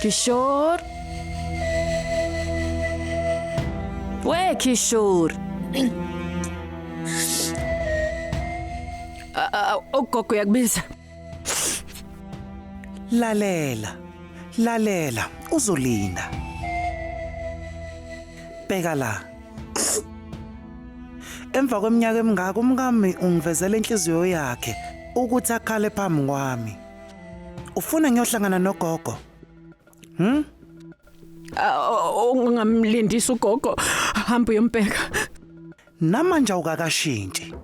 Kishor. Where Kishor? Ah, ah, Ugogo uyakubiza. Lalela. Lalela, uzolinda. Bheka la. Emva kweminyaka emingaka umkami ungivezela inhliziyo yakhe ukuthi akhale phambi kwami. Ufuna ngiyohlangana nogogo? Hm? Ungamlindisa ugogo hamba uyombheka. Namanje awukakashintshi.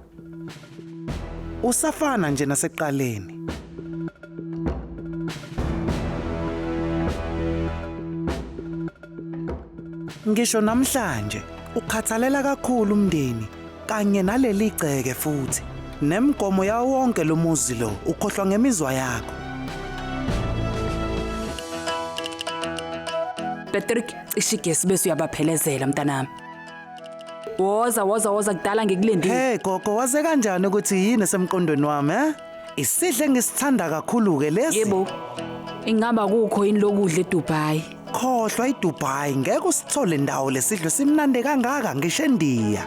Usafana nje naseqaleni. Ngisho namhlanje ukhathalela kakhulu umndeni kanye naleli gceke futhi nemgomo yawo wonke lo muzi lo ukhohlwa ngemizwa yakho Patrick cishe igesi bese uyabaphelezela mntanami woza woza woza kudala ngikulindile Hey gogo waze kanjani ukuthi yini esemqondweni wami eh Isidle ngisithanda kakhulu-ke lesi. Yebo. Ingaba kukho yini lokudla eDubai? Khohlwa iDubai ngeke usithole ndawo lesidlo simnande kangaka ngisho eNdiya.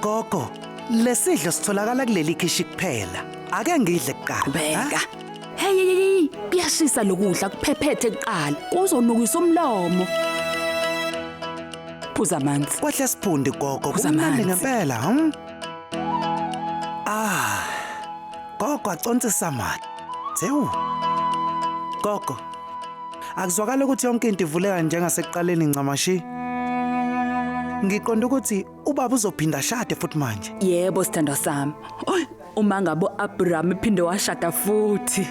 Gogo, lesidlo sitholakala kuleli khishi kuphela. Ake ngidle kuqala. Qhubeka. ha? Hey hey hey, kuyashisa lokudla kuphephethe kuqala. Kuzonukisa umlomo. Phuza amanzi. Kwahle siphundi gogo. Phuza Kumnandi amanzi. ngempela, hm? Ah. Gogo acontisa mali. Zewu. Gogo. Akuzwakala ukuthi yonke into ivuleka njengasekuqaleni ncamashi. Ngiqonda ukuthi ubaba uzophinda shade futhi manje. Yebo sithandwa sami. Oy, uma ngabo Abraham iphinde washada futhi.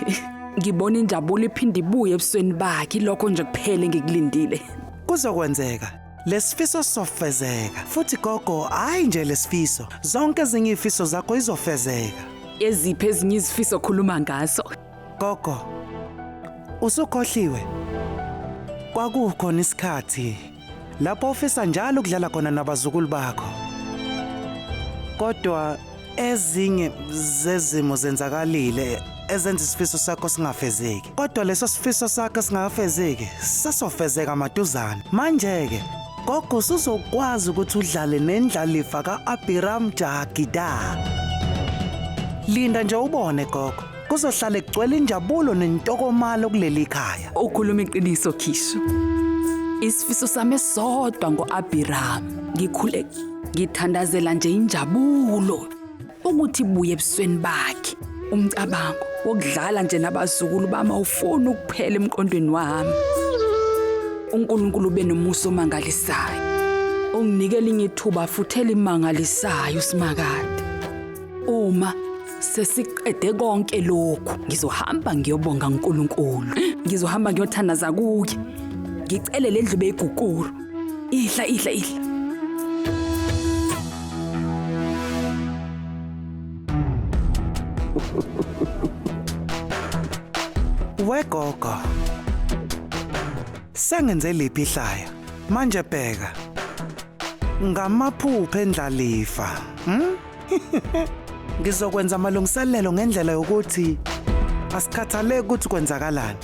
Ngibona injabulo iphinde ibuye ebusweni bakhe lokho nje kuphele ngikulindile. Kuzokwenzeka. Lesifiso sofezeka futhi gogo hayi nje lesifiso zonke ezinye ifiso zakho izofezeka eziphi ezinye izifiso okhuluma ngaso gogo usukhohliwe kwakukhona isikhathi lapho ufisa njalo ukudlala khona nabazukulu bakho kodwa Ezinye zezimo zenzakalile ezenza isifiso sakho singafezeki. Kodwa leso sifiso sakho singafezeki sasofezeka maduzane. Manje-ke gogo usuzokwazi ukuthi udlale nendlalifa ka-Abiram Jagida. Linda nje ubone gogo. Kuzohlale kugcwele injabulo nentokomalo kuleli khaya. Ukhuluma iqiniso Khisho. Isifiso sami sodwa ngoAbraham. Ngikhule ngithandazela nje injabulo ukuthi buye ebusweni bakhe. Umcabango wokudlala nje nabazukulu bama ufuna ukuphela emqondweni wami. uNkulunkulu benomusa omangalisayo. Unginikele ingethuba futhela imangalisayo simakade. Uma sesiqede konke lokhu ngizohamba ngiyobonga uNkulunkulu. Ngizohamba ngiyothandaza kuye. Ngicele lendlu beyigukuru. Ihla ihla ihla. Wegogo. Sengenze liphi ihlaya? Manje bheka. Ngamaphupha endlalifa. Hmm? Ngizokwenza amalungiselelo ngendlela yokuthi asikhathaleki ukuthi kwenzakalani.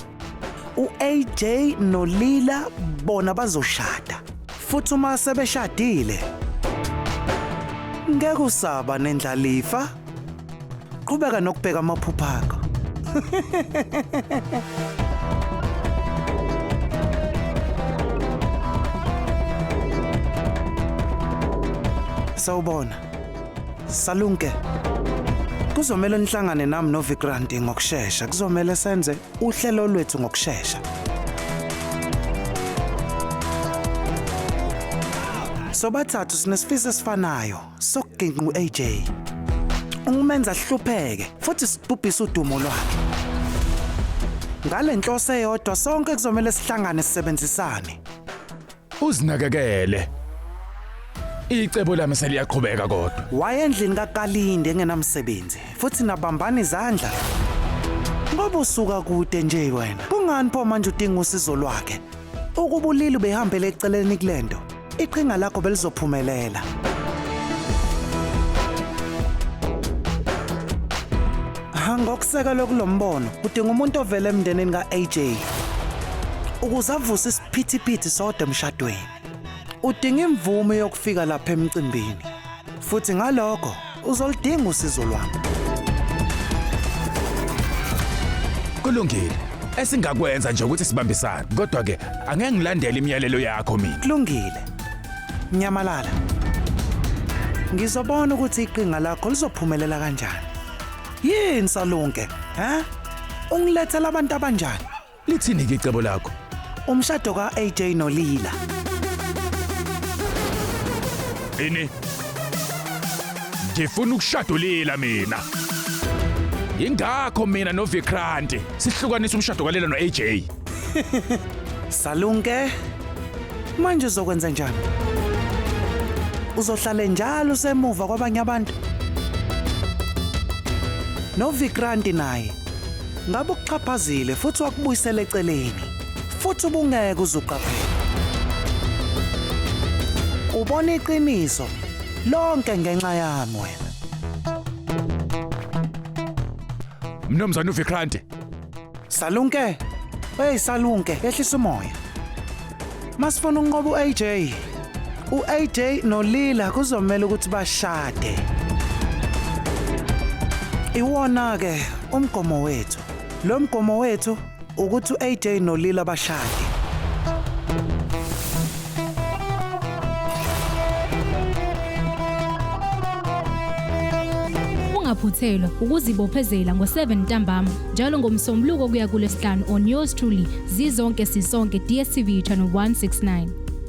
U-AJ noLila bona bazoshada. Futhi uma sebeshadile ngeke usaba nendlalifa Qhubeka nokubheka amaphupha akho. Sawubona. Salunke. Kuzomela nihlangane nami noVikrant ngokusheshsha. Kuzomela senze uhlelo lwethu ngokusheshsha. Sobathathu sinesifiso esifanayo. sokuginqa u-AJ ungumenza hlupheke futhi sibhubhisa udumo lwakhe ngale nhlose eyodwa sonke kuzomele sihlangane sisebenzisane uzinakekele icebo lami seliyaqhubeka kodwa wayendlini kakalinde engenamsebenzi futhi nabambana izandla ngoba usuka kude nje wena kungani pho manje udinga usizo lwakhe Ukuba ulili ubehambele eceleni kule nto iqhinga lakho belizophumelela ngokusekelwe kulo mbono udinga umuntu ovele emndenini ka-aj ukuze avuse isiphithiphithi sodwa emshadweni udinga imvume yokufika lapha emcimbini futhi ngalokho uzoludinga usizo lwami. Kulungile. Esingakwenza nje ukuthi sibambisane. Kodwa ke angeke ngilandele imiyalelo yakho mina. Kulungile. Nyamalala. Ngizobona ukuthi iqinga lakho lizophumelela kanjani. Yini salunke? Ha? Ungilethela abantu abanjani? Lithini-ke icebo lakho? Umshado ka-AJ noLila. Ini? Ngifuna ukushada uLila mina. Yingakho mina noVikranti sihlukanisa umshado kaLila no-AJ. Salunke. Manje uzokwenza njani? Uzohlale njalo usemuva kwabanye abantu? NoVikranti naye Ngabe ukuxhaphazile futhi wakubuyisela eceleni, futhi ubungeke uzuqaphela. Ubona iqiniso lonke ngenxa yami wena. Mnumzane uVikrante, Salunke, hey Salunke, ehlisa umoya. Masifuna unqoba uAJ. UAJ noLila kuzomela ukuthi bashade. Iwona ke umgomo wethu. Lo mgomo wethu ukuthi uAJ noLila bashade. Ungaphuthelwa ukuzibophezela ngo-7 ntambama. njalo ngomsombuluko kuya kulesihlanu on yours truly zizonke sisonke dstv channel 169